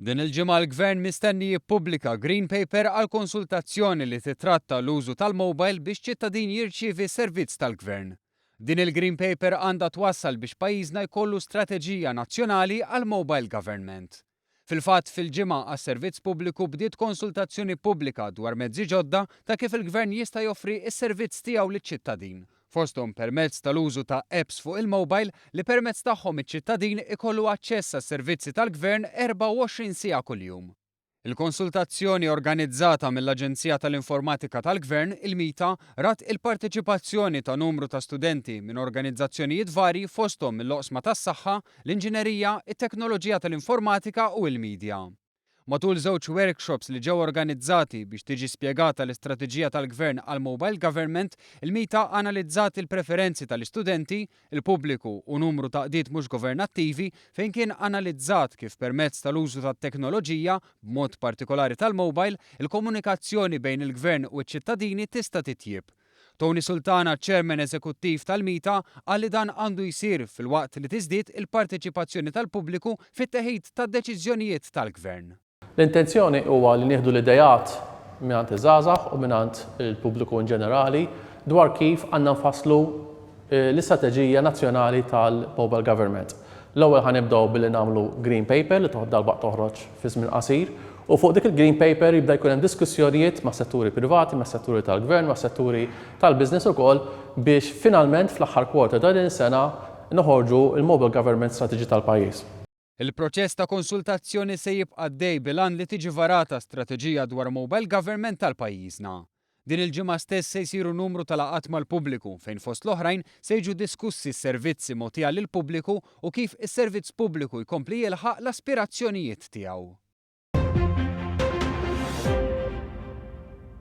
Din il-ġimgħa l-Gvern mistenni jippubblika Green Paper għal konsultazzjoni li titratta l-użu tal-mobile biex ċittadin jirċievi servizz tal-Gvern. Din il-Green Paper għandha twassal biex pajjiżna jkollu strateġija nazzjonali għall-mobile government. Fil-fatt, fil-Ġimgħa għas-Servizz Pubbliku bdiet konsultazzjoni pubblika dwar mezzi ġodda ta' kif il-Gvern jista' joffri s-servizz tiegħu liċ-ċittadin, fosthom permezz tal-użu ta' apps fuq il-mobile li permezz tagħhom iċ-ċittadin ikollu aċċess għas-servizzi tal-Gvern 24 siegħa kuljum. Il-konsultazzjoni organizzata mill-Aġenzija tal-Informatika tal-Gvern, il-MITA, rat il-parteċipazzjoni ta' numru ta' studenti minn organizzazzjonijiet varji fosthom mill-oqsma tas-saħħa, l-inġinerija, it-teknoloġija tal-informatika u l-midja. Matul żewġ workshops li ġew organizzati biex tiġi spjegata l-istrateġija tal-Gvern għall-Mobile Government, il-MITA analizzat il-preferenzi tal-istudenti, il-pubbliku u numru ta' qdiet mhux governattivi fejn kien analizzat kif permezz tal-użu tat-teknoloġija, b'mod partikolari tal-mobile, il-komunikazzjoni bejn il-Gvern u ċ-ċittadini tista' titjieb. Tony Sultana, Chairman Eżekuttiv tal-MITA, qal li dan għandu jsir filwaqt li tiżdied il-parteċipazzjoni tal-pubbliku fit-teħid tad-deċiżjonijiet tal-Gvern. L-intenzjoni huwa li nieħdu l-ideat mingħand iż-żgħażagħ u mingħand il-pubbliku in ġenerali dwar kif għandna nfasslu l-istrateġija nazzjonali tal-mobile government. L-ewwel ħa nibdew billi nagħmlu green paper li toħ darb'haqq toħroġ fi żmien qasir u fuq dik il-green paper jibda jkun hemm diskussjonijiet mas-setturi privati, mas-setturi tal-gvern, mas-setturi tal-business ukoll biex finalment fl-aħħar quarter ta' din is-sena noħorġu l-mobile government strategy tal-pajjiż. Il-proċess ta' konsultazzjoni se jibqa' għaddej bil-għan li tiġi varata strateġija dwar mobile government għal pajjiżna. Din il-ġimgħa stess se jsiru numru ta' laqgħat mal-pubbliku fejn fost l-oħrajn se jiġu diskussi s-servizzi mogħtija lill-pubbliku u kif is-servizz pubbliku jkompli jilħaq l-aspirazzjonijiet tiegħu.